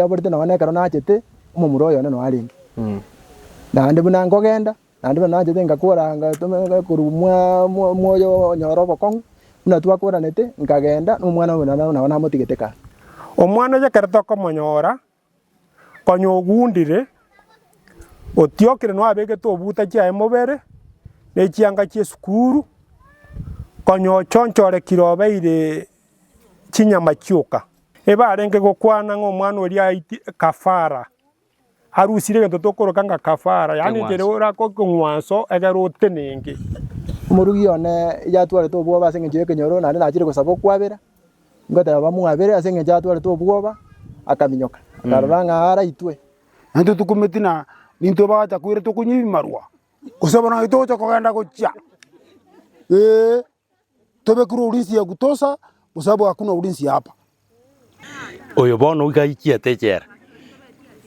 yaborete nonya nekero nachete omomura oyone nonya arenge. Naende buna nkogenda, naende buna nachete ngakora ngatomerera korwa mwa- mwa- mwoyo onyore obokong'u, buna twakoranete nkagenda na omwana oyo nabo nabo namotigete kare. Omwana oye ekero tokomonyora, konya ogundire, otiokire nonya abegete obuta chiaye mobere, ne chianga chi'esukuru, konya ochonchorekire obeire chinyama chioka. Ebe arenge gokwana ng'a omwana oria aiti ekafara, arusire egento tokoroka ng'a kafara, yaani ekere orake ekeng'wanso egere otenenge. Omorugi one yatwarete obwoba ase engencho y'ekenyoro, naende nachire gosaba okwabera, ngoteba bamwabere ase engencho atwarete obwoba, akaminyoka, akarora ng'a araitwe. Naintwe tokumeti na nintwe abagacha koira tokonywa ebimarwa, gose bono naki togocha kogenda gochia, ee. Tobe kure ulinsi ya kutosha, kwa sababu hakuna ulinsi hapa. Oyo bono iga aichiete echela.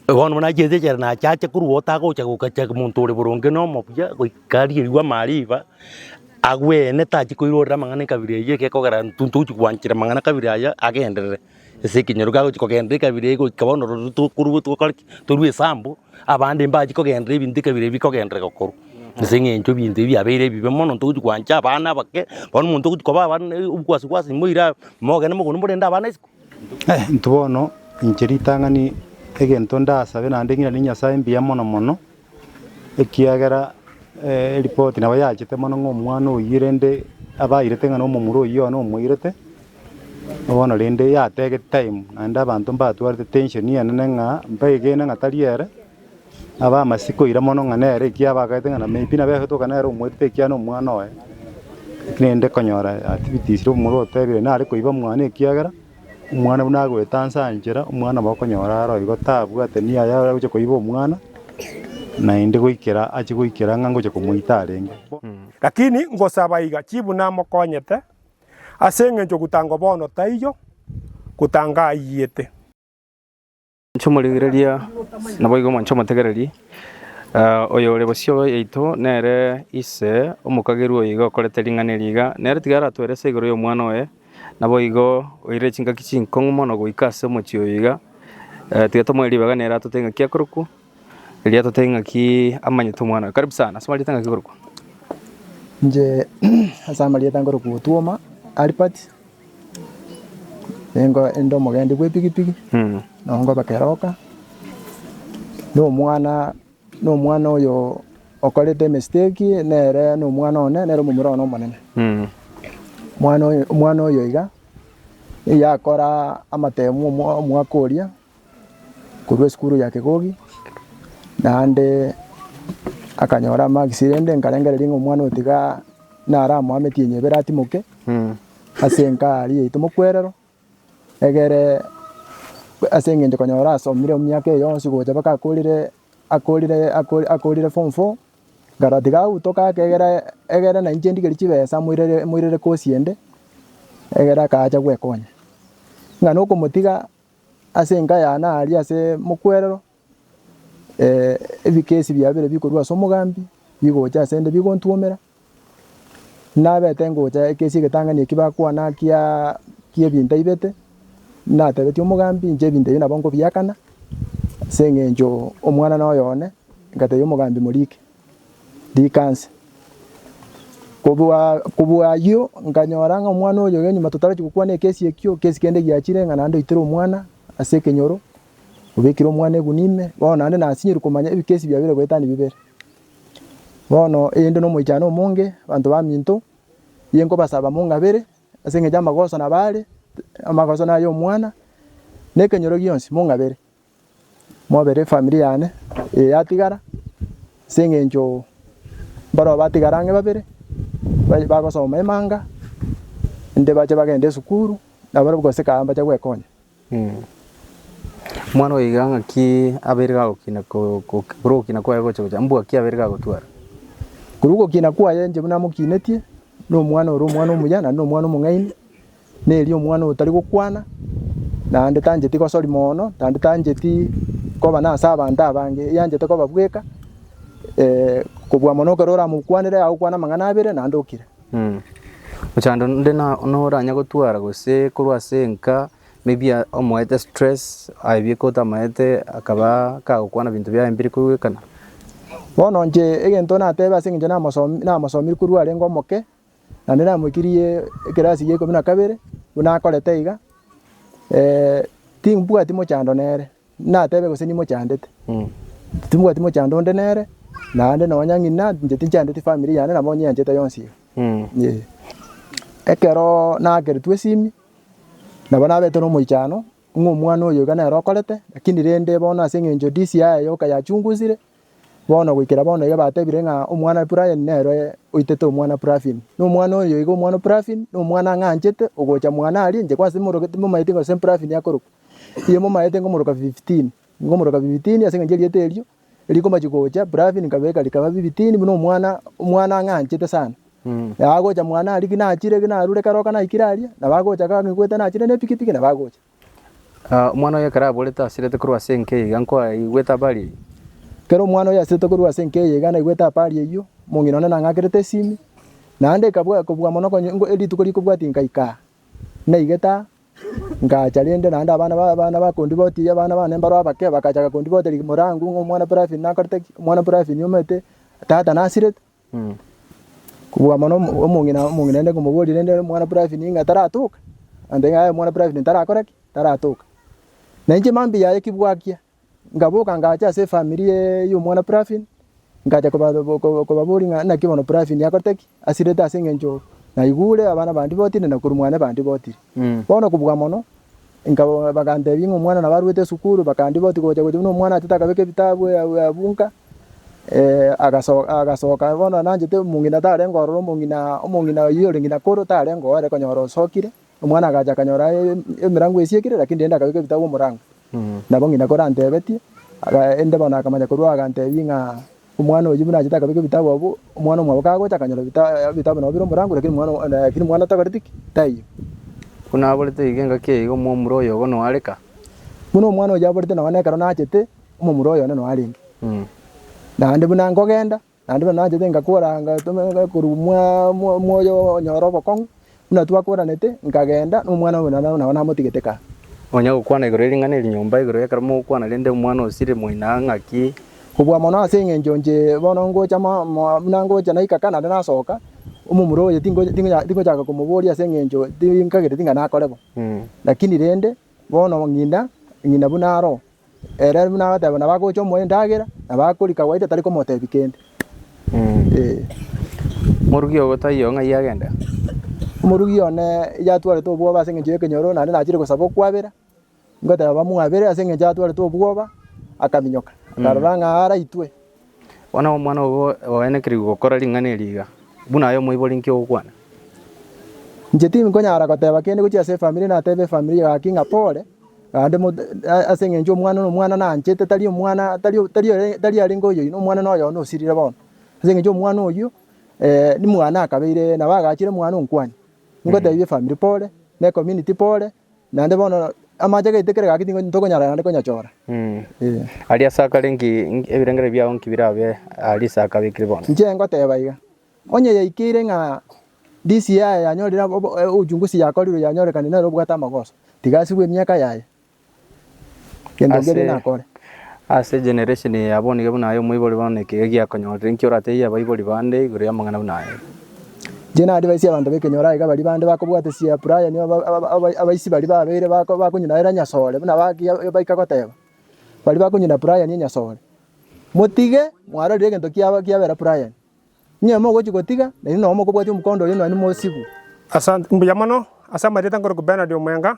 Bono buna aichiete echela nacha ache korwa otagocha gokacha monto ore boronge na omobuya goika arie rigwa mariba, agwene tachi koirorera amang'ana ekabira eyio ekekogera intwe ntogochi gwanchera amang'ana kabira aya agenderere. Ase ekenyoro gagochia kogenda ekabira eye goika bono rorio tokorwa togokora ki? Torwe esambu, abande mbachie kogenda ebinto ekabira eye bikogenderereka korwa. Ase eng'encho ebinto ebi biabeire ebibe mono ntogochia gwancha abana abake, bono omonto ogochia koba abana na obogwasi gwasi moira aye, mogende mogondo morende abana isiko. Eh intwe bono inche ritang'ani egento ndasabe naende ng'iranie Nyasae mbuya mono mono, ekiagera eripoti nabo yachete mono ng'a omwana oyio rende abairete ng'a nomomura oyio yono omoirete, bono rende yatege time naende abanto mbatwarete tension enene ng'a mbaegene ng'a tari ere, abe amasi koira mono ng'a nere ekiya abagaete ng'a na maybe nabo egetoka nere omoirete ekiagera nomwana oye, rende konyora activities omomura otebire nare koiba mwane ekiagera. omwana buna agoeta nse anchera, omwana nabo okonyora aro igo tabwate niyo aye agochia koiba omwana, naende goikera achie goikera ng'a ngochia komoita arenge. Lakini ngosaba iga, chibu namokonyete, ase engencho gutangwa bono taiyo, gutanga aiyete. Mwanche omoringereria, naboigo mwanche omotegereria. Ah, oyo ore bosio yaito nere ise omokagerwa oyo iga okorete ring'ana eri iga, nere tiga aratwere ase igoro y'omwana oye, naboigo oirire chingaki chinkong'u mono goika ase omochie oyo iga. Eh, tiga tomoe ribaga nere atote ing'aki akorokwa, erio atote ing'aki amanyete omwana oye. Karibu sana, ase amarieta ing'aki korokwa? Inche ase amarieta nkorokwa Otuoma Albert. Nigo inde omogendi bw'epigipigi, nongobe keroka, nomwana nomwana oyo okorete emesiteki nere nomwana one, nere omomura one omonene. Omwana oyo omwana oyo iga, nigo akora amatemu omwa- omwaka oria, korwa esukuru ya Kegogi, naende akanyora amaksi rende nkarengereria ng'a omwana oyo tiga naramoa metienyi ebere atimoke, ase enka aria yaito mokwerero, egere ase eng'encho konyora asomire emiaka eye yonsi gocha mpaka akorire akorire akori- akorire form four, nkarora tiga agutoka ake egere egere na inche ndigerie chibesa moirere moirere kosi ende, egere akacha gwekonya. Ng'a nokomotiga. Ase enka y'ana aria ase mokwerero, ebikesi biabire bikorwa ase omogambi bigocha ase 'nde bigontuomera, nabete ngocha ekesi egetang'ani eki bakwana kia ki'ebinto aibete, natebetie omogambi inche ebinto ebi nabo nkobiakana ase eng'encho omwanana oyo one, ngatebia omogambi morike. Rika nse. Kobua kobua ayio nkanyora ng'a omwana oyo oyo nyuma totareti gokwana ekesi ekio, ekesi kende giachire ng'a naende oitire omwana ase ekenyoro, obekire omwana egunwa ime, bono naende nasinyorwe komanya ebikesi biabire goetania bibere. Bono eyende na omoichano omonge, abanto baminto, nigo nkobasaba mong'abere ase eng'encho ya amagoso nabo are, amagoso naya omwana, na ekenyoro gionsi, mong'abere. Mobere efamiri yane eye yatigara, ase eng'encho mbarabwo batigara ang'e babere, bagosoma emanga, inde bache bagende esukuru, nabarabwo gose kare mbache gwekonya. Mwana oyo iga ng'aki abeire gagokina ko- ko- korwa ogokina kwaye gocha gocha, mbwa ki abeire gagotwara? Korwa ogokina kwaye inche buna namokinetie, na omwana ore omwana omuya, naende na omwana omong'aini. Neri omwana otari gokwana, naende tancheti gosori moono, naende tancheti koba nase abanto abange, eyanchete koba bweka, kobua mono ekero oramokwanere agokwane amang'ana abere naende okire. Ochando onde noranye gotwara gose korwa ase enka maybe omoete stress aebia ekero otamaete akaba kagokwana ebinto biaye mbiri korwa ekana. Bono inche egento natebe ase eng'encho namosomi namosomi korwa arenge omoke. Naende namoikirie ekerasi y'ikomi na kabere, buna akorete iga, timbwati mochando nere, natebe gose nimochandete, timbwati mochando onde nere, naende nonya ng'ina inche tinchandeti family yane nabo nyeanchete yonsi iga, eh. Ekero naakeretigwe esimi, nabo nabete na omoichano, ng'a omwana oyo iga nere okorete, lakini rende bono ase eng'encho DCI yoka yachungusire. Bono goikera bono iga batebire ng'a omwana o Ephraim nere oitete omwana o Praphim, na omwana oyo iga omwana o Praphim, na omwana ng'a anchete ogocha mwana aria inche, gose timoroka- timomaeti gose Praphim akorokwa. Inye momaete nkomoroka Phibitini, nkomoroka Phibitini ase eng'encho erieta erio rikomachia gocha, Praphim nkabeka rikaba Phibitini buna omwana omwana ng'a anchete sana. Nabo agocha mwana aria ki nachire ki narure kare oka naikire aria, nabo agocha kang'igwete nachire na epikipiki nabo agocha. Omwana oye ekero aborete asirete korwa ase enka eye iga nkoaigwete abare eyio. Ekero omwana oye asirete korwa ase enka eye iga naigwete abare eyio, omong'ina one nang'akerete esimi, naende ekabua kobua mono konye nko rituko rikobwatia nkaika aa. Naigete aa, ngacha rende naende abana ba abana bakondiboti abana bane mbaro abake bagachaka kondibotera ig morango ng'a omwana bravin nakorete ki, omwana bravin omanyete tata nasirete, Kobua mono omong'ina omong'ina aende komoboria rende omwana private ng'a taratoka, amotebia ng'a aye omwana private tarakora ki? Taratoka. Na inche mambia yaye ki bwakia, nkaboka nkacha ase efamiri ya omwana private, nkacha koba ko- kobaboria ng'a naki bono private akorete ki? Asirete ase eng'encho naigure abana bande botire na korwa mwane bande botire. Bono kobua mono. Nkabo bagantebia ng'a omwana nabo arwete esukuru, bakandia boti gocha gocha buna omwana atete akabeka ebitabu abunka, agasoka agasoka bono nonye nanchete omong'ina tarenge ororo omong'ina omong'ina oyio ore ng'ina koro tarenge oo ere konyora osokire, omwana agacha akanyora emirango esiekire lakini rende akabeka ebitabu omorango. Nabo ng'ina koro antebetie, aga ende bono akamanya korwa agantebia ng'a. Omwana oyio buna achete akabeka ebitabu abwo, omwana omwabo kagocha akanyora ebitabu nabo bire omorango, lakini omwana takoreti ki? Taiyo. Buna aborete iga engaki eyio iga omomura oyo bono oareka. Buna omwana oyio aborete nonya ekero nachete, omomura oyo one noarenge. Naende buna nkogenda, naende buna nachete ngakora, ngatoma korwa mwa mwa oyo onyore obokong'u, Buna twakoranete, nkageenda nomwana oye na nao namotigete kaa. Nonya gokwana igoro ering'ana eri nyomba igoro y'ekero mogokwana rende omwana osiri moina ng'aki. Kobua mono ase eng'encho inche bono ngocha buna ngocha naika kaa naende nasoka, omomura oye tingochaka komoboria ase eng'encho tinkagete ting'a nakore bo. Lakini rende bono ng'ina buna aroo. Ere buna agateba nabo agocha omoa endagera, nabo akoria kawaida tari komotebia kende. Eh. Morugi ogo taiyo ng'ai agenda. Omorugi one yatwarete obwoba ase eng'encho y'ekenyoro, naende nachire gosaba okwabera, ngoteba bamwabere ase eng'encho atwarete obwoba, akaminyoka, akarora ng'a araitwe. Bono omwana obo oenekerigwe gokora ring'ana eri iga, buna aye omoibori inki ogokwana? Inche tinkonyara goteba kende gochia ase efamiri natebe efamiri eye gaki ng'a pole, naende ase eng'encho omwana nomwana nanchete tari omwana tari tari arenge oyoino omwana noyo one osirire bono, ase eng'encho omwana oyio nimwana akabeire nabo agachire omwana onkwania, ingotebia efamiri pole, ne ecommunity pole. Naende bono amache agaitwa kera egaki tintokonyara naende konyachora. Aria ase akare inki ebirengererio biao inki birabe aria ase akabekire bono? Inche ngoteba iga, onye yaikeire ng'a DCI yaye yanyorire abo- o- e- uchunguzi yakorirwe yanyorekana nere obwate amagoso, tiga asibwe emiaka yaye. Ase ase generation eye abonige buna aye omoibori bono nekiega giakonyorire, inki oratebie abaibori bande igoro y'amang'ana buna aya? Inche na-advise abanto b'ekenyoro aiga baria bande bakobwate chia Brian aba- aba- aba- abaisi baria babere bako- bakonyinaera enyasore buna baki baika goteba, baria bakonyina Brian enyasore, motige mwarorire egento kiaba kiabera Brian, onye mogochi gotiga, naende nonye mokobwati omokondo oyo naende mosibu. Asante mbuya mono ase amarieta nkoroku Bernard Omwenga,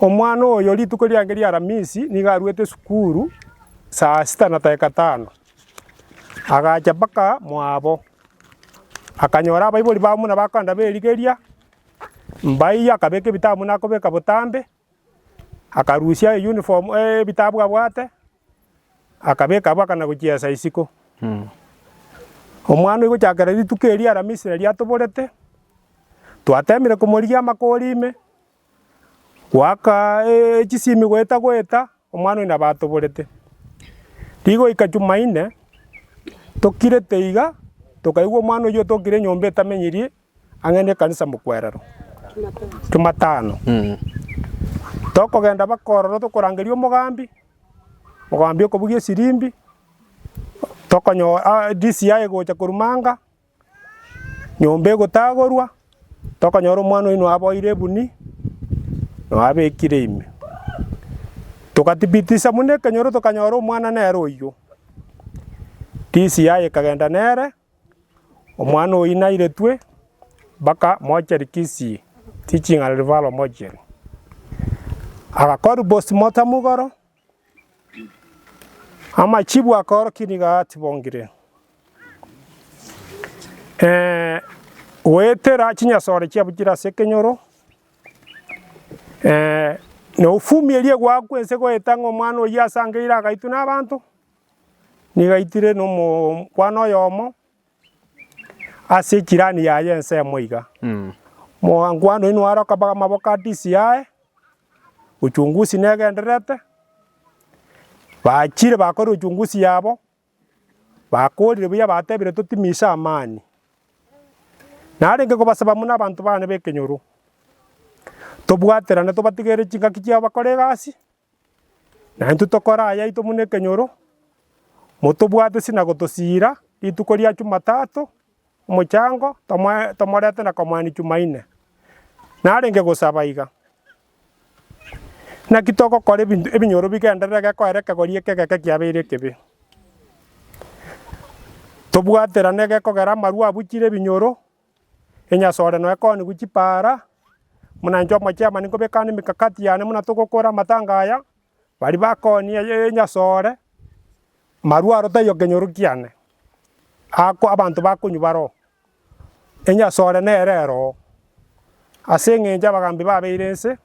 Omwana oyo rituko riange ri'Aramisi nigo arwete sukuru saa sita na dakika tano. Agacha mpaka mwabo, akanyora abaibori ba bamura bakogenda berigeria, mbaiyo akabeka ebitabu buna akobeka botambe, akarusia eyuniform ebitabu abwate, akabeka abwo akana gochiesa isiko. Omwana oyio gochakera rituko eri ri'Aramisi nari atoborete, twateemire komorigia amakori ime. Goaka echisimi goeta goeta, omwana oyio nabo atoborete. Rigoika Jumaine, tokirete iga, tokaigwa omwana oyio otokire enyomba etamenyirie ang'e ne ekanisa mokwerero, jumatano. Tokogenda baka ororo tokorangeria omogambi, omogambi okobugia esirimbi, tokonyora DCI egocha korwa manga. Nyomba egotagorwa, tokanyora omwana oino aboire ebuni, noabekire ime. Togatibitisa buna ekenyoro tokanyora omwana nere oyio. Tisi yaye ekagenda nere, omwana oyio nairetwe mpaka mochari Kisii, teaching and referral mochari. Agakorwa postmortem igoro, Amachibu akaorokia nigo atibongire, ee, goetera chinyasore chiabo chire ase ekenyoro, ee, na ofumierie gwao kw'ense goeta ng'a omwana oyio asangeire agaitwa nabaanto, nigo aitire nomo kwana oyomo. Ase echirani yaye ensemo iga, Mwankwano oino aroka mpaka amaboko a tisi yaye, uchungusi negendererete, bachire bakorire uchungusi yabo, bakorire buya batebire totimise amani. Narenge kobasaba buna abanto bane b'ekenyoro, tobwaterane tobatigere chingaki chiabo bakore egasi. Na intwe tokore ayaito buna ekenyoro, motobwate ase na gotosiira rituko ria Chumatato omochango, tomorete na komania Chumaine. Narenge gosaba iga, naki togokora ebinto ebinyoro bigenderere gekoera ekegori eke egeke kiabeire ekebe? Tobwaterane egekogera amarwa abuchire ebinyoro. Enyasore noe koonigu chipaara, buna inche omochemani nkobekana emekakati yane buna togokora amatanga aya, bari bakoonie eye enyasore, marwaro taiyo kenyoro kiane, ako abanto bakonywa bare oo, enyasore nere ere oo. Ase eng'encho abagaambi babeire nse.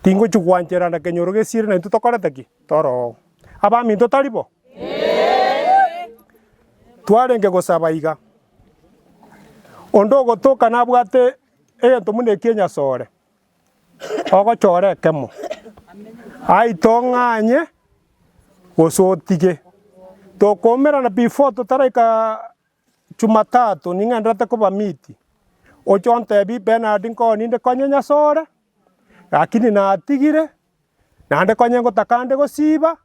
Tingochia gwanchera na kenyoro gesiire na intwe tokorete ki? Toroo. Abaminto tari bo? Ee. Twarenge gosaba iga. Onde ogotoka nabwate egento buna eki enyasore, ogochore ekemo. Aite ong'anye gose otige. Tokoumerana before totaraika Jumatatu ning'enderete koba miti, oche ontebie Bernard nko ninde konye nyasore, lakini natigire, naende konye ngotaka ande gosiba,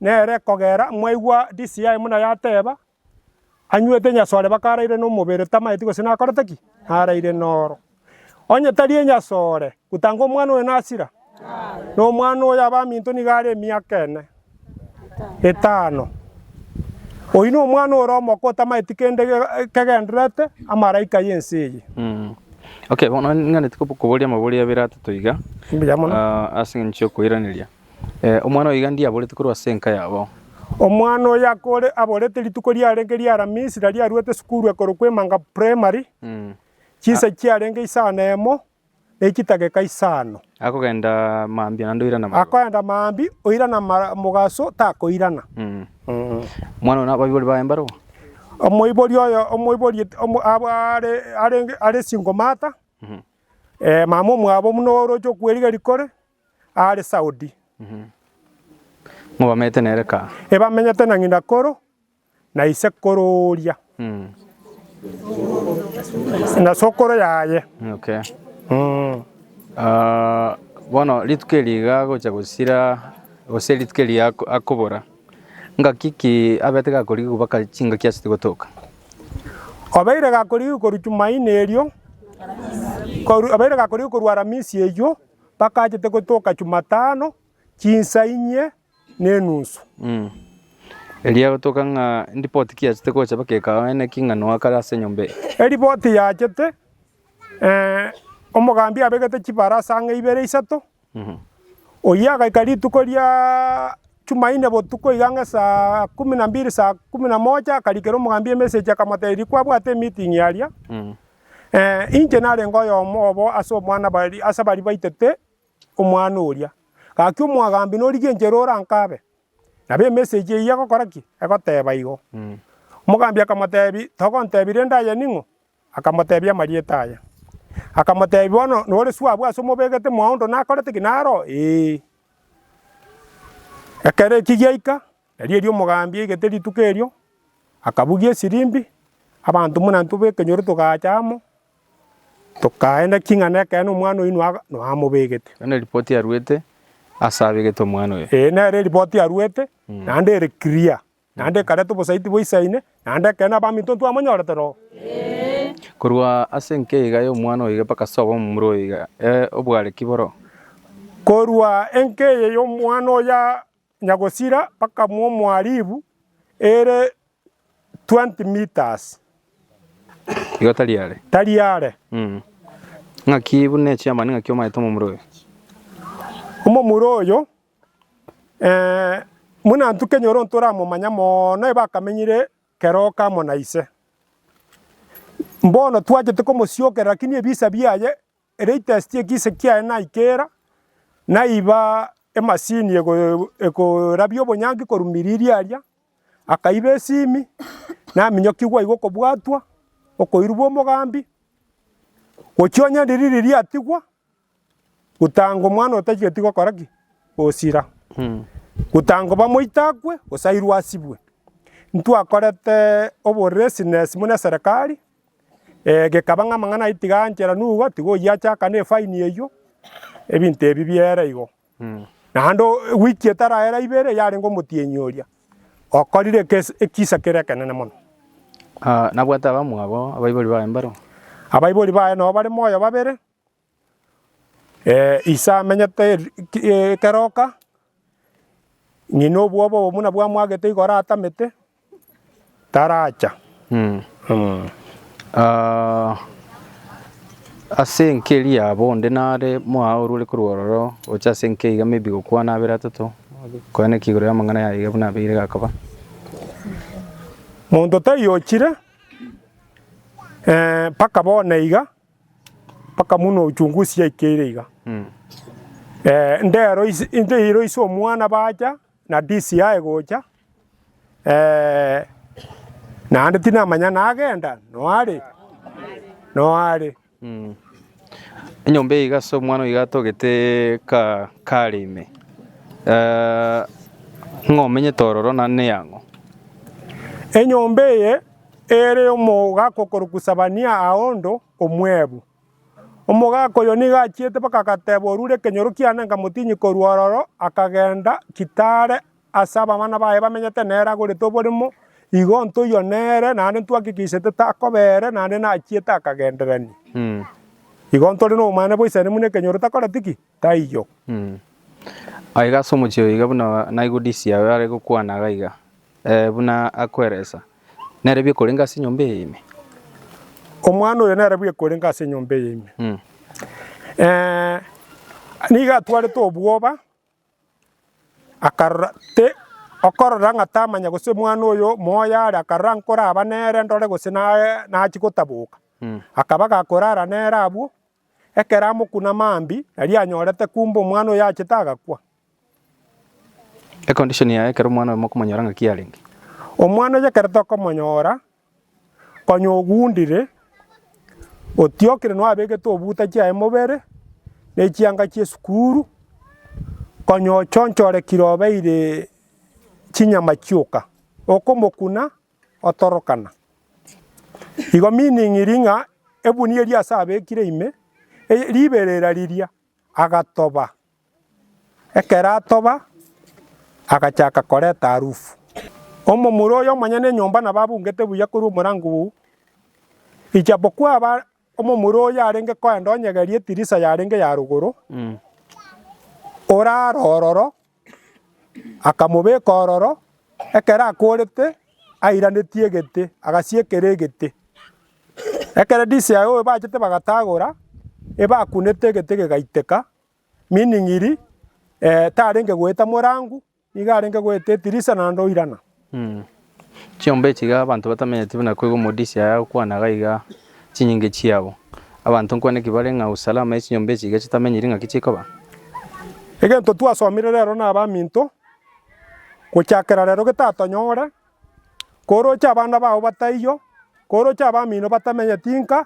nere kogera mwaigwa DCI buna yateba, anywete nyasore baka araire nomobere tamaeti gose nakorete ki? Naraire noro. Onye tari enyasore, gotanga omwana oyo nasira? Na omwana oyo abaminto nigo are emiaka ene, etano. Oyio nomwana ore omoko otamaeti kende kegendererete amalaika y'ense eye. Mm. Okay, bono ning'anete kobo- koboria amabori abere atato iga Mbuya mono. ah, ase eng'encho y'okoiraneria Eh, omwana oyo iga ndiye aborete korwa ase enka yabo Omwana oyo akore aborete rituko riarenge ri'Aramisi, na riaruete sukuru ekorokwa Emanga Primary, Mm. Chinsa chiarenge isano emo na echitageka isano. Akogenda mambia naende oirana amaroro. Akoenda maambia oirana amara- mogaso takoirana. Mwana one abaibori baye mbarabwo. Omoibori oyo omoibori et- omo- abo are- arenge are single mother, eh, mama omwabo buna oroche okwerigia rikore, are Saudi. Ng'o bamenyete nere kaa? Ebamenyete na ng'ina koro na isekoro oria, na sokoro yaye. Okay. Mm. Ah, bono rituko eri iga agocha gosira gose rituko eri ako- akobora ngaki ki abete gakorigia kobaka chingaki ase tigotoka Obeire gakorigia korwa Jumaine erio, koru- obeire gakorigia korwa Aramisi eyio, bakachete gotoka Jumatano, chinsa inye, nenusu. Erio agotoka ng'a, Eripoti kiachete gocha baka ekao ene ki ng'a noakare ase enyomba eye? Eripoti yachete, ee, omogambi abegete chibarasa ang'e ibere isato, oyio agaika rituko ria Jumaine botuko iga ang'e saa kumi na mbiri saa kumi na moja akarikera omogambi emessage akamoteberia kwabwate emeeting aria, inche narenge oyomo obo ase omwana baria ase baria baitete. omwana oria. Gaki omoagaambi norigenchere ore orankaabe, nabo emessage eyio egokora ki? Egoteeba igo. Omogaambi akamoteebia, Togontebia rende aya ning'o? Akamoteebia amarieta aya. Akamoteebia, Bono nore suabu ase omobegete mwaondo nakorete ki? Naro? Ee. Ekero ekio giaika, Erio erio omogambi aigete rituko erio, akabugia esirimbi, abanto buna intwe b'ekenyoro togacha amo, tokaenda ki ng'a nekeene omwana oino aa noamobegete. Ero neripoti aruete ase abegete omwana oyo. Ee, nere eripoti aruete, naende ere clear, naende ekareta obosaiti boisaine, naende ekeene abaminto ntwamonyorete rogo. Korwa ase enke iga y'omwana oyo iga mpaka ase obo omomura oyo iga, ee, obware ki boroo? Korwa enke eye y'omwana oyo aa. Nyagosira bakamwa omwaribu ere twenty metres. Igo tari are. Tari are. Ng'aki buna echiama ning'aki omanyete omomura oyo? Omomura oyo buna intwe kenyoro ntoramomanya mono ebe akamenyire keroka amo na ise. Bono twachete komosiokerera lakini ebisa biaye Latest ekise kiaye naikera, naiba emasini ekorabia obonyanki korwa miriri aria, akaiba esimi, naminyokigwa iga okobwatwa, okoirwa omogambi, gochia onye ririri riatigwa, gotanga omwana otageti gokora ki? Gosira, gotanga koba moito akwe, gose airwe asibwe. Ntwakorete oboresness buna eserekari. Gekaba ng'a amang'ana ayio tiga anchera nugo, tiga oyio achaka nefaini eyio, ebinto ebi biere igo. Naende wiki etaraera ibere yarenge omotienyi oria okorire ekisa kere ekenene mono. Nabwate abamwabo abaibori baye mbaro? Abaibori baye nao bare moyo babere. Ise amenyete ekeroka, ng'ina obwoba obo buna bwamwagete igo oratamete, taracha. Ase enka eria yabo onde nare mwao orwore korwa ororo gocha ase enka iga maybe gokwana abere atato, kwana ki igoro y'amang'ana aya iga buna abeire gakaba? Monto taiyochire mpaka bono iga. Mpaka muno uchungusi yaikeire iga. Eh, ndero ise, ndero ise omwana bacha na DCI gocha. Eh, naende tinamanya nagenda noare noare. Enyomba eye iga ase omwana oyo iga atogete ka kare ime. Eh, ng'o omenyete ororo na neyang'o? Enyomba eye Ere omogaka okorokwa Sebania aondo omwebu. Omogaka oyo nigo achiete mpaka agateba orure ekenyoro kiane nkamotinyi korwa ororo akagenda gitare ase abamana baye bamenyete nere agorete oboremo igo ntoywa nere naende ntwakikisete takoba ere naende nachiete akagenderania. Igo ntore nobomanyene bwa Isiraeli buna ekenyoro takoreti ki? taiyo. Aiga ase omochie oyo iga buna naigwe disi yaye are gokwana iga iga, ee, buna akweresa, nere biekorenge ase enyomba eye ime. Omwana oyo nere biekorenge ase enyomba eye ime. Eh, nigo atwarete obwoba, akarora te, okorora ng'a tamanya gose omwana oyo moyo are, akarora nkoraba nere ndore gose naye nachia gotaboka, akaba gakorara nere abwo, Ekero amokuna mambia, nari anyorete kumbe omwana oyo achete agakwa. Econdition yaye ekero omwana oyo mokomonyora ng'aki yarenge. Omwana oyo ekero tokomonyora, konya ogundire, otiokire nonye abegete obuta chiaye mobere, na echianga chia esukuru, konya ochonchorekire obeire chinyama chioka, okomokuna. otorokana. Igo meaning iri ng'a ebuni eria ase abekire ime riberera riria agatoba, ekero atoba agachaka koreta harufu. Omomura oyo omonyene enyomba nabo abungete buya korwa omorango oo, ijapokua aba. Omomura oyo arenge koenda onyegerie etirisa yarenge ya rogoro, orare ororo, akamobeka ororo, ekero akorete airanetie egete, agasiekera egete. Ekero DCIO bachete bagatagora, ebakunete egete gegaiteka, meaning ri, tarenge goeta morangu. Nigo arenge goeta etirisa naende oirana. Chiomba echi iga abanto batamenyeti buna koigo omodisi aye agokwana iga iga chinyinge chiabo. Abanto nkwane ki bare ng'a usalama ye chinyomba echi iga chitamenyiri ng'aki chikoba? Egento twasomire rero na abaminto, gochakera rero getatonyore, koroche abana bao bataiyo, koroche abamino batamenyeti nka,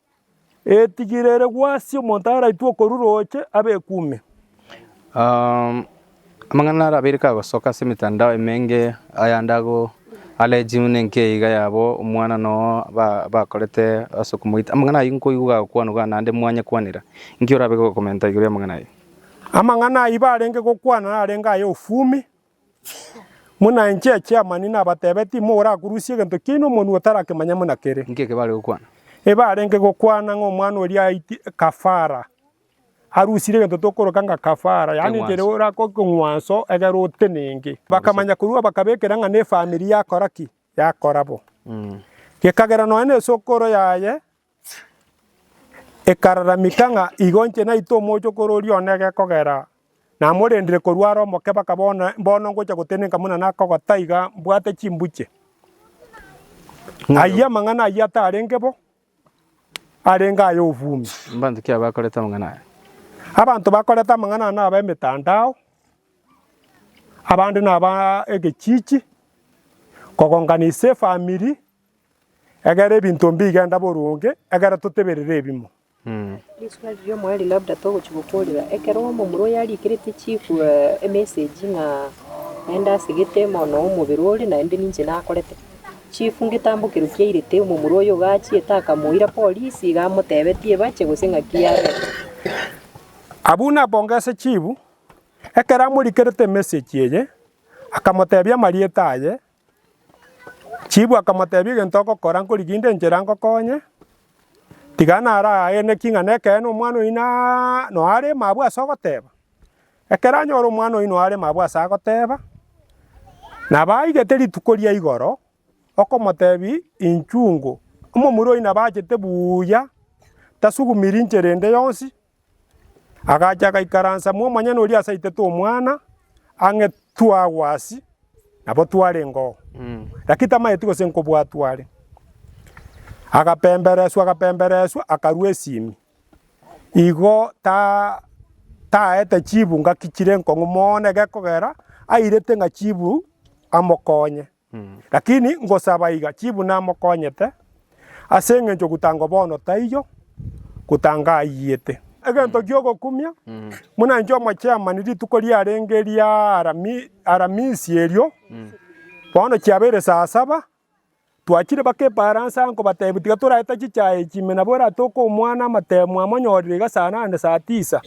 Etigiri ere gw'asie omonto araitwe okoru rooche, abe eku ime. Amang'ana are abeire kagosoka ase emetandao emenge, ayande ago allegium nenke iga yabo omwana nogo ba bakorete ase okomoita. Amang'ana ayio nkoigwa gagokwanwa naende mwanye kwanera. Inki orabe gokomenta igoro y'amang'ana ayio? Amang'ana ayio barenge gokwana narenge aya ofumi. Buna inche Chairman nabatebe, timorakurusia egento kiaino omonwe otarakemanya buna kere. Inki eke bare gokwana? Ebarenge gokwana ng'a omwana oria aiti kafara. Arusire egento tokoroka ng'a kafara, yaani Eng'wanso. ekero orakore eng'wanso egere otenenge. Bakamanya korwa bakabekera ng'a nefamiri yakora ki? Yakora bo. Gekagera nonya na esokoro yaye Ekararamika ng'a igo inche naitwe omochokoro oria one gekogera, namorendire korwa are omokebe, akaba one, mbono ngocha gotenenka buna nakogotaa iga mbwate chimbuche. Ayio amang'ana ayio atarenge bo, arenge aya obwume. Mbanto ki abakorete amang'ana aya? Abanto bakorete amang'ana aya naba emetandao, abande naba egechichi, kogonganisa efamiri, Ekero ebinto mbi bigenda boronge, ekero toteberire ebimo. Rituko riria omoerio labda togochia gokorera ekero omomura oye arikerete chief emessage ng'a naende asegete mono omobere ore naende ninche nakorete. Chief ngetambokerwa ki airete omomura oyo iga achiete akamoira polisi iga amotebetie ebache gose ng'aki yabera. Abwo napongese chief ekero amorikerete emessage eye, akamotebia amarieta aye Chibu akamotebia, Egento ogokora nkoriginde enchera ngokonye, tiga narageneki ng'a nekeene omwana oyio na noe aremo abwo ase ogoteba. Ekero anyora omwana oyio noe aremo abwo ase agoteba, nabo aigete rituko ria igoro, okomotebia, Inchungo, omomura oyio nabo achete buuya, tasugumiri inchera ende yonsi. Agacha agaikaransa mwomonyene oria ase aitete omwana ang'e twagwasi nabo twarengoo, lakini tamaeti gose nkobwatwa are. Agapembereswa agapembereswa akarua esimi, igo ta taete chibu ngaki chire nkong'u mono egekogera airete ng'a chibu amokonye. Lakini ngosaba iga, chibu namokonyete, ase engencho gotango bono taiyo, gotango aiyete. Egento giogokumia, buna inche omochairman rituko riarenge ria Aramisi erio, bono chiabeire saa saba, twachire baka efaransa nkobatebia tiga toraete chichae echi ime nabo eratoke omwana amatebe mwamonyorire iga saa nane saa tisa,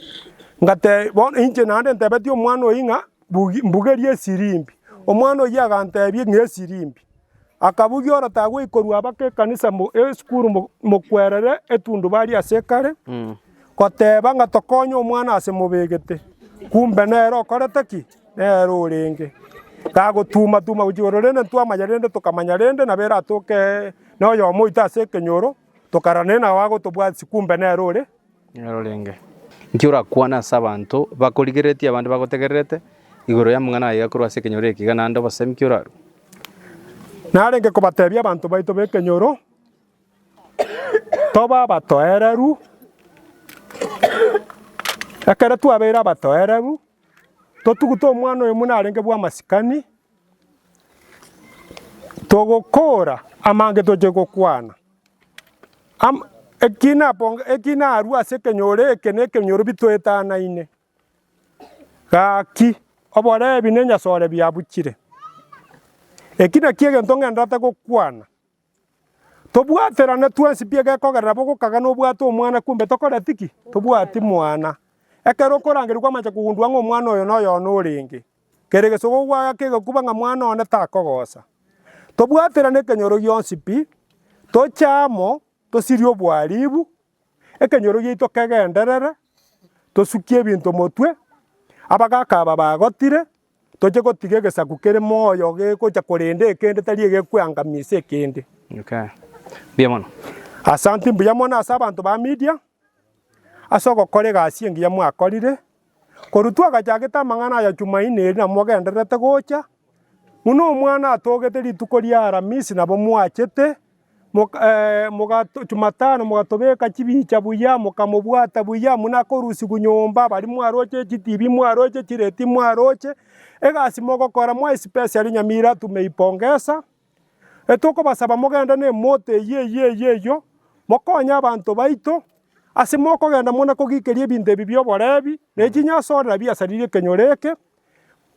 bono inche naende ntebetie omwana oyio ng'a Mbugerie esirimbi. Omwana oyio aganteebia, Ng'a esirimbi. Akabugia ore tagweikorua abake ekanisa mbu esukuru mbu mokwerere etundubari ase ekare, goteeba ng'a tokonye omwana ase mobegete. Kumbe nere okorete ki? Nere orenge. Tagotuma tuma gochia igoro rende ntwamanya rende tokamanya rende nabo eratoke noyomo oito ase ekenyoro, tokarora naende nao agotobwatisi kumbe nere ore. orenge. Inki orakwane ase abanto bakorigereretie abande bagotegererete igoro y'amang'ana aya korwa ase ekenyoro ekiiga, naende obosemi ki orarue? Narenge kobatebia abanto baito b'ekenyoro, Toba abatoereru, ekero twabeire abatoereru, totugute omwana oyomo narenge bw'amasikani, togokora amange toche gokwana. Am, eki naponga, eki narua ase ekenyoro eke nekenyoro bitoetanaine. Gaki, oborebi nenyasore biabuchire. Eki nakio egento ng'endate gokwana. Tobwaterane twensi pi egekogerera bo gokaga nobwate omwana kumbe tokoreti ki? Tobwati mwana. Ekero okorangerigwa kwamache kogundua ng'a omwana oyo noyo one orenge. Kera egesogo gwaga kegakuba ng'a mwana one takogosa. Tobwaterane ekenyoro gionsi pi, toche amo, tosirie oboaribu, ekenyoro giaito kegenderere, tosukie ebinto motwe, abagaka aba bagotire, toche gotiga egesaku kere moyo gegocha korende ekende tari egekweangamia ase ekende. Asante mbuya mono ase abanto ba Media. ase ogokora egasi engiya mwakorire, korwa twagachagete amang'ana aya Jumaine eri namogendererete gocha, buna omwana atogete rituko ria Aramisi nabo mwachete, moka Jumatano mogatobeka chibicha buya, mokamobwata buya buna akorusigwa nyomba, baria mwaroche chitibi mwaroche chireti mwaroche, egasi mogokora mwa especially Nyamira tumeipongesa. Etokobasaba mogende nemoto eyio eyio eyio eyio, mokonye abanto baito, ase mokogenda muna kogikeria ebinto ebi bi'oborebi, na echinyasorera biasaririe ekenyoro eke,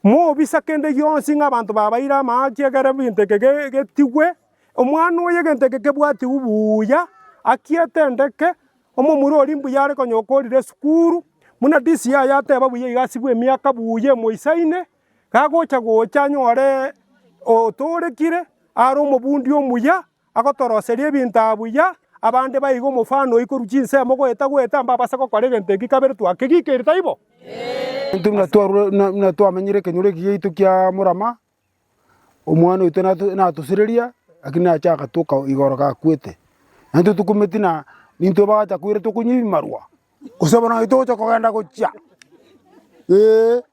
mobisa kende gionsi ng'a abanto babaire amaaki ekero egento eke getigwe, omwana oyo egento eke kebwatigwe buuya, aki etendeke, omomura oria mbuya are konyoka orire esukuru, buna DCI ateba buya iga asibwe emiaka buuya emoisaine. Gagocha gocha anyore otoorekire are omobundi omuya, agotoroseria ebinto aa buya, abande baige omofano oyio korwa chinsemo goeta goeta, mbabase gokora egento eki kabere twakegikeri, taibo? Intwe buna twarure buna twamenyire ekenyoro eki giaito kia morama, omwana oito nato natosireria, lakini nache agatoka igoro gakwete. Naintwe tokumeti na nintwe bagacha koira tokonywa ebimarwa, gose bono naintwe togocha kogenda gochia eeh.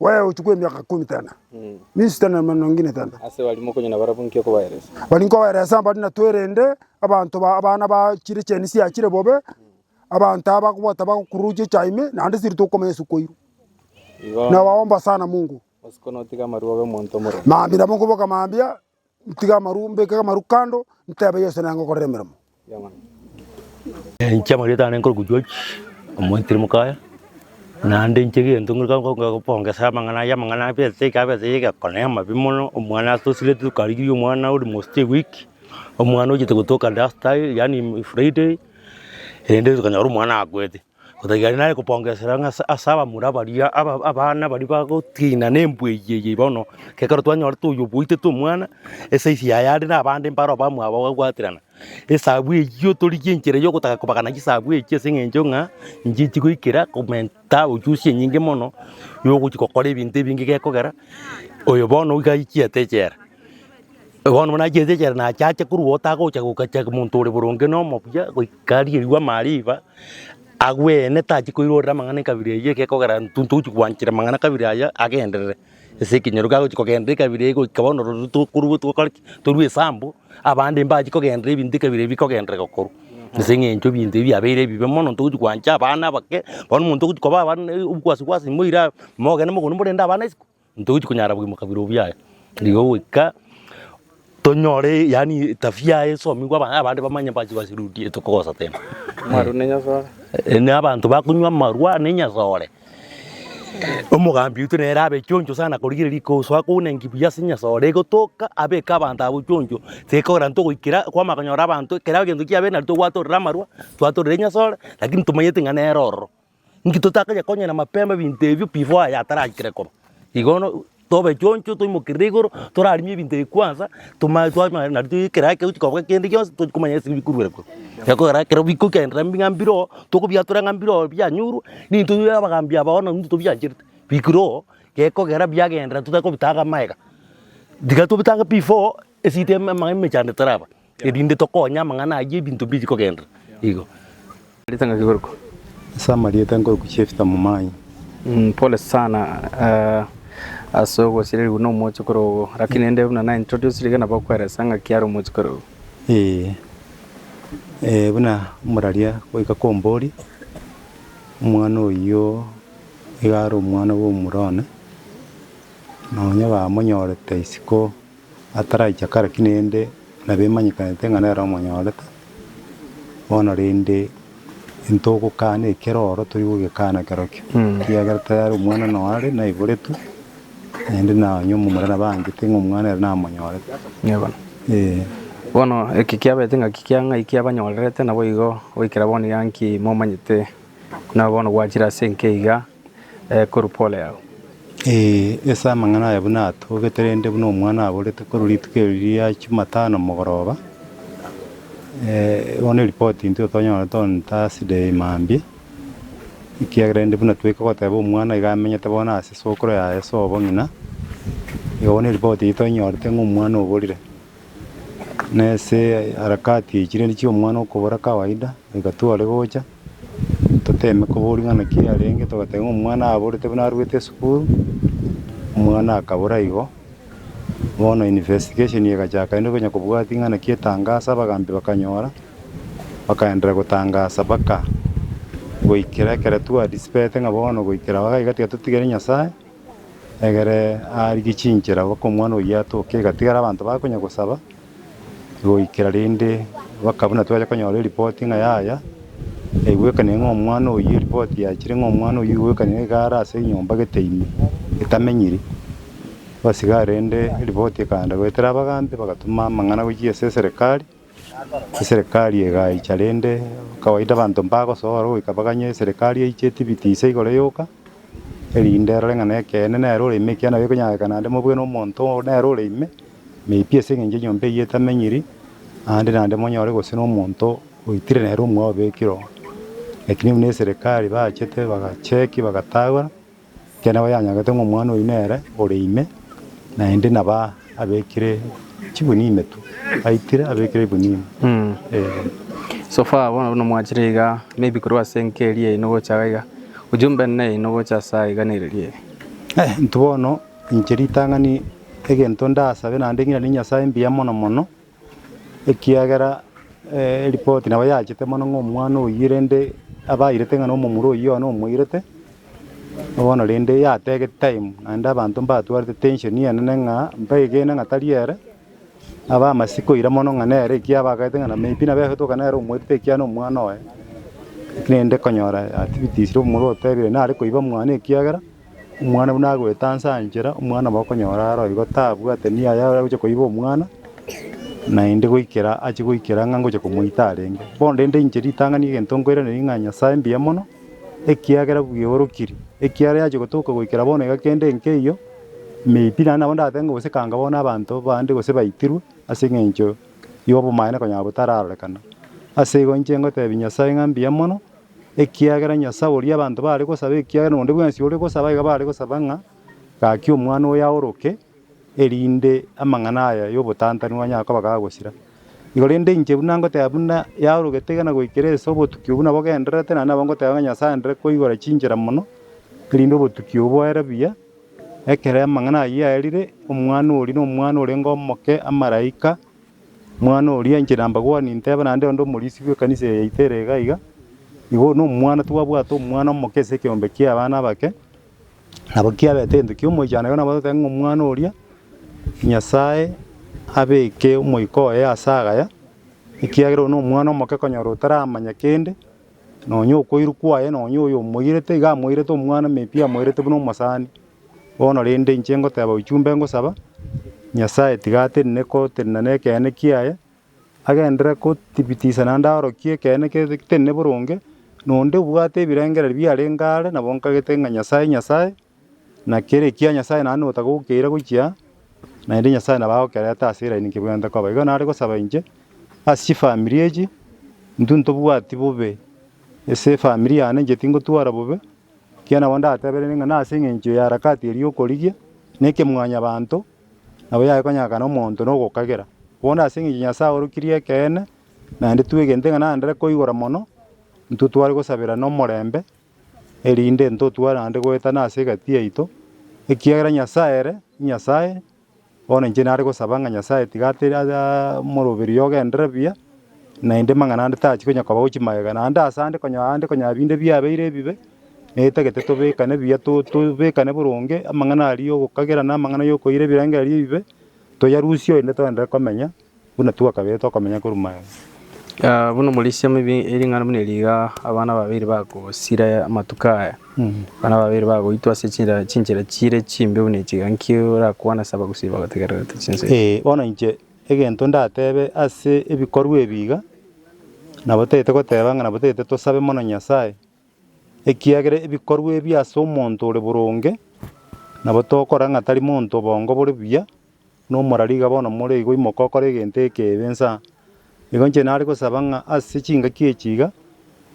Wee ochi kw'emiaka ikomi tana, minsi tana n'amanono ngina tana. Ase baria mokonyora barabwo nki okobaeresa? Bari nkobaeresa mbare natwerende abanto ba abana ba chire chiani chiachire bobe, abanto aba ko batabagokururukia echaye ime, naende siri tokomanya ase okoirwa. Igo Na waomba sana Mungu. bosi konotiga amarua obe omonto omorembe. Mambia nabo nkoboka mambia, Ntige amaru, mbeke amaru kando, ntebe Yeso nere ngokorera emeremo. Inche amarieta ane nkorokwa George omoitiri mokaya, naende inche egento nkorokire nko- nko- kobongesa amang'ana aya, amang'ana aya besa eke besa eke egekona na amabe mono, omwana asosireti tokarigiria omwana almost a week, omwana ochete gotoka duster yaani friday, erende tokanyora omwana akwete. Otaiga aria nare kopongesera ng'a ase ase abamura baria aba- abana baria bagotiina na embwa eyio eyio bono, ekero twanyorete oyo obwaitete omwana, esize yaye are na abande mbaro abamwabo bagabwaterana. Esabu eyio torigie enchera ya ogotaka kobagana chisabu echio ase eng'encho ng'a inche chigoikera komenta uchusi enyinge mono ya ogochi gokora ebinto ebinge gekogera oyo bono iga aichiete echera. Bono buna chiaito echio nachiache korwa otagocha gokacha monto ore boronge na omobuya goika riria mariba, agwene tachi koirorera amang'ana ekabira eyio egekogera intwe ntochi gwanchera amang'ana kabira aya agenderere ase ekenyoro kagochi kogenderera ekabira eyio goika bono roruo tokorwa tokore ki torue esambu, abande mbachi kogenderera ebinto ekabira eyio bikogenderera gokorwa. Ase eng'encho ebinto ebio biabeire ebibe mono ntogochi gwancha abana abake, bono omonto ogochi koba abana na obogwasi gwasi moira abe mogende mogondo morende abana isiko. Ntogochia konyara bogima kabere obuya nigo goika tonyore yaani tabia yaye esomigwe abana abande bamanye mpaka chibase chirurire tokogosa tena. Amaru na enyasore. Yaani abanto bakonywa amarwa na enyasore. Omogambi oito nere abe choncho sana korigereria kosoa kounenki buya ase enyasore egotoka abeke abanto abwo choncho tekorera ntogoikera kwamanya konyora abanto ekero egento kiabeire nari tobwate ororo amarwa, tobwate ororo enyasore lakini tomanyete ng'a nere ororo. Inki totakanya konya na mapema ebinto ebio before aya ataragikire koba. Igo bono tobe choncho toimokerere igoro torarimie ebinto ebi kwanza toma twamanya nari toigwe ekero ake gochia koba kende gionsi tochi komanya ase bikorwa kore. Ekogera ekero bikogenderera ng'a mbire oo tokobiatora ng'a mbire oo bianyorwa ninto bire abagambi aba bono ninto tobiancherete bikire oo gekogera biagenderera totakobitaga amaega. Tiga tobitaga before esida ema emechando etaraba. erinde tokonye amang'ana ayio ebinto mbiri kogenderera. Igo. Marieta ngaki korokwa? Ase amarieta nkorokwa Chefita Momai. Mm, pole sana uh, ase ogosirerigwa nomochi kore ogo, lakini ende buna na introduce riga nabo okweresa ng'aki are omochi kore ogo. Ee, ee, buna moraria goika kombori, omwana oyio iga are omwana bwa omura one, na onye bamonyorete isiko. Ataraicha kare ki rende nabemanyekanete ng'a nere omonyorete, bono rende intogokana ekero oro tori gogekana kerokio, ekiagera tayare omwana noyo are, naiboretwe, naende nonye omomura nabaanchete ng'a omwana ere namonyorete. Yebo. Ee. Bono eki kiabete ng'aki kia ng'ai kiabanyorerete, naboigo goikera bono iga nki momanyete, na bono gwachire ase enki iga? korwa pole yao. Ee, ase amang'ana aya buna atogete rende buna omwana aborete korwa rituko eri ria Chumatano mogoroba, bono eripoti intwe tonyora tore Thursday mambia, ekiagera rende buna twaika goteba omwana iga amenyete bono ase sokoro yaye ase obong'ina, igo bono eripoti eyio toinyorete ng'a omwana oborire. Na ase harakati echi rende chia omwana okobora kawaida, goika tware gocha. Toteeme koboria ng'a naki yarenge, togateba ng'a omwana aborete buna arwete esukuru, omwana akabora igo, bono investigation egachaka rende konya kobwatia ng'a naki etangasa abagambi bakanyora, bakaendelea gotangasa mpaka goikera ekero twadisipete ng'a bono goikera aho iga tiga totigere Nyasaye, egere arigie chinchera mpaka omwana oyio atoke, igatigara abanto bakonya gosaba. goikera rende baka buna twacha konyora eripoti ng'a yaya yaigwekanire ng'a omwana oyio eripoti yachire ng'a omwana oyio igwekanire iga are ase enyomba gete ime etamenyiri. Bas igaa rende eripoti ekaanda goetera abagambi bagatuma amang'ana gochia ase eserekari, eserekari egaicha rende kawaida abanto mbagosoa oro goika baganye eserekari eiche etibiti ise igoro yoka erinde erore ng'a na ekeene nere ore ime ekiagera ekonyara goika naende mobwene omonto nere ore ime. Meipi ase engencho enyomba eyio etamenyiri, naende naende monyore gose nomonto oitire nere omwao obekire oo. Lakini buna eserekari bachete bagacheki bagatagora, ekiagera nabo yanyagete ng'a omwana oyio nere ore ime, naende naba abekire chigunia ime tu, aitire abekire egunia ime eh. So far bono buna mwachire iga maybe korwa ase enka eria yaino gocha iga, ujumbe nene yaino gocha ase aiga neriria eye? Eh intwe bono. Inche ritang'ani egento ndasabe naende ng'iranie Nyasae mbuya mono mono, ekiagera eripoti nabo yachete mono ng'a omwana oyio rende abairete ng'a nomomura oyio one omoirete, bono rende yatege time naende abanto mbatwarete tension enene ng'a mbaegene ng'a tari ere, abe amasi koira mono ng'a nere ekiagera abagaete ng'a may be nabo egotoka nere omoirete ekiagera nomwana oye, rende konyora activities omomura otebire nare koiba mwane ekiagera. Omwana buna agoeta anse anchera, omwana obo okonyora aro igo tabwate niyo aya agochia koiba omwana, naende goikera achie goikera ng'a ngocha komoita arenge. Bono rende inche ritang'ani egento nkoiraneria ng'a Nyasae mbuya mono, ekiagera bweorokirie, ekiagera yachia gotoka goikera bono iga kende nkeiyo, may be naende nabo ndatebe ng'a gose kanga bono abanto bande gose baitirwe ase eng'encho y'obomaene konya botararorekana. Ase igo inche ngotebia Nyasae ng'a mbuya mono. Ekiagera Nyasae oria abanto baare gosaba, ekiagera nonde bwensi ore gosaba iga baare gosaba ng'a, Gaki omwana oyo aoroke, erinde amang'ana aya y'obotantanigwa anyare koba gagosira. Igo rende inche buna ngoteba buna yaorogete iga na goikera ase obotuki obwo nabo gendererete, naende nabo ngoteba ng'a Nyasae andere koigora chinchera mono, erinde obotuki obwo boere buya, ekero amang'ana ayio yaerire, omwana oria nomwana orenge omoke, amaraika. Omwana oria inche nambagwani nteba naende onde omorisia bw'ekanisa eye yaito ere iga iga, igo nomwana tibwabwate omwana omoke ase ekeombe ki'abana abake, nabo kiabete egento kia omoichano. Igo nabo totebe ng'a omwana oria Nyasae abeke omoika oye ase agaya, ekiagera oyo nomwana omoke konyora otaramanya kende, nonya okoirwa kwaye nonya oyo omoirete iga amoirete omwana maybe amoirete buna omosani. Bono rende, inche ngoteeba ochumbe ngosaba, Nyasae tiga atenene kotenena nekeene kiaye, agenderere kotibitisa naende aorokie ekeene ketenene boronge, nonde obwate ebirengererio biarenge aare nabo nkagete ng'a Nyasae, Nyasae, na kere ekia Nyasae naende notagokeira gochia aa, naende Nyasae nabo agokerete ase eraini nkebwenerete koba. Igo nare gosaba inche ase chifamiri echi, intwe ntobwati bobe ase efamiri yane, inche tingotwara bobe, Ekiagera nabo ndatebereire ng'a nase engencho ya harakati eria y'okorigia na ekemwanyabanto nabo yagekonyakana omonto na ogokagera. Bono ase engencho Nyasae aorokirie ekeene, naende twegente ng'a nandere koigora mono, intwe tware gosabera nomorembe, erinde ntotware naende goetana ase egati yaito, ekiagera Nyasae ere Nyasae, Bono inche nare gosaba ng'a Nyasae tiga atere omoroberio ogenderere buya, naende amang'ana ande tachi konya koba gochia magega, naende ase ande konya ande konya binde biabeire ebibe, netagete tobekane buya to tobekane boronge amang'ana aria ya ogokagerana, amang'ana ya okoira ebirengererio ebibe, toyarusie oende toenderere komenya. Buna twakabire tokomenya korwa maega. Buna omorisia omobe ering'ana buna eri iga abana babere bagosira amatuko aya, abana babere bagoitwa ase chinchera chire chimbe buna echi iga, nki orakwane ase abagusii bagotegererete chinsa echi? Ee, bono inche egento ndatebe ase ebikorwa ebi iga, nabo tagete goteba ng'a nabo tagete tosabe mono Nyasae, ekiagera ebikorwa ebi ase omonto ore boronge, nabo tokora ng'a tari monto obongo bore buya. Nomora riga bono more igo imoke okore egento ekeebe insa. Igo inche nare gosaba ng'a ase chingaki echi iga,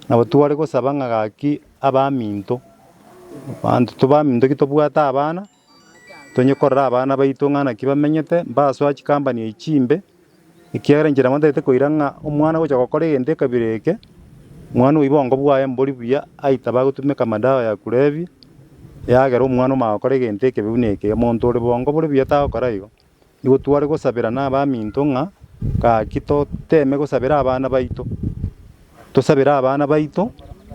nabo tware gosaba ng'a gaki abaminto, abanto to baminto ki tobwate abana, tonye korora abana baito ng'a naki bamenyete, mbasoa chikampani echi chimbe. Ekiagera inche nabateete koira ng'a omwana agocha gokora egento ekabire eke, mwana oyo obongo bwaye mbori buya, aitaba agotumeka amadawa ya kulevia, eyagera omwana omanya gokora egento ekebe buna eke. Omonto ore bongo bore buya tagokora igo. Nigo tware gosabera nabaminto ng'a gaki toteme gosabera abana baito, tosabere abana baito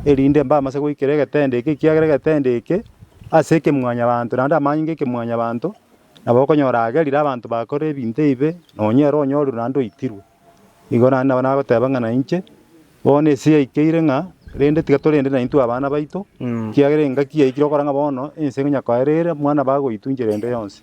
erinde mbamase goikera egetendo eke, ekiagera egetendo eke ase ekemwanyabanto naende amanyinga ekemwanyabanto. Nabo okonyora agerire abanto bakorire ebinto ebibe, nonya ere onyorirwe naende oitirwe. Igo naende nabo nagoteba ng'a nainche, bono ense yaikeire ng'a, rende tiga torende naintwe abana baito, ekiagera engaki yaikire gokora ng'a bono ense ngonya koerere mwana bagoitunche rende yonsi.